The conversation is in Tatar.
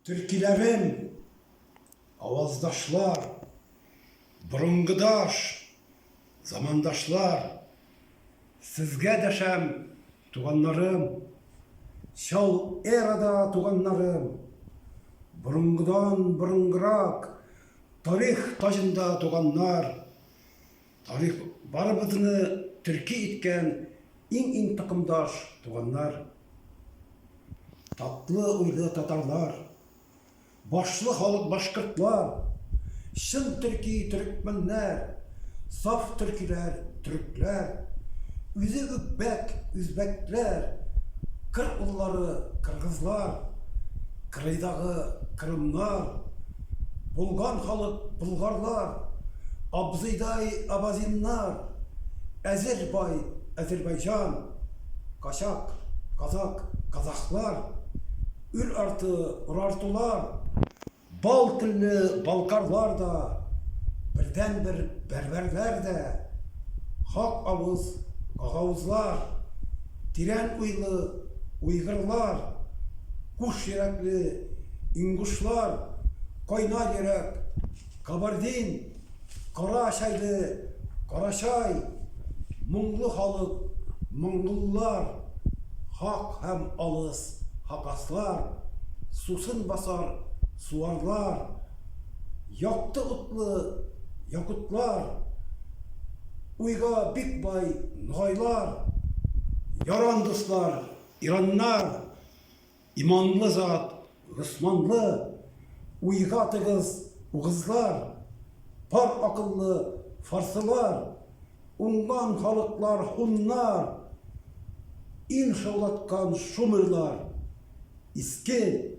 Төркиләрем, аваздашлар, борынгыдаш, замандашлар, сезгә дәшәм, туганнарым, чал эрада туганнарым, борынгыдан борынгырак, тарих таҗында туганнар, Тарих барыбызны төрки иткән иң-иң токымдаш туганнар, татлы уйлы татарлар, башлы халык башкортлар, чын төрки төрекмәннәр, саф төркиләр төрекләр, үзе үкбәк үзбәкләр, кыр уллары кыргызлар, кырыйдагы кырымнар, Булган халык болгарлар, абзыйдай абазиннар, әзер бай Азербайҗан, качак, казак, казахлар, үр арты урартулар, бал телле балкарлар да, бердәнбер бәрбәрләр дә, хак авыз гагаузлар, Тирән уйлы уйгырлар, куш йөрәкле ингушлар, кайнар йөрәк кабардин, кара чәйле карачай, моңлы халык моңгуллар, хак һәм алыс хакаслар, сусын басар суарлар, Якты утлы якутлар, Уйга бик бай ногайлар, Яран дуслар, ираннар, Иманлы зат, госманлы, Уйга тыгыз угызлар, Пар акыллы фарсылар, Уңган халыклар һуннар, Ил шаулаткан шумерлар, Иске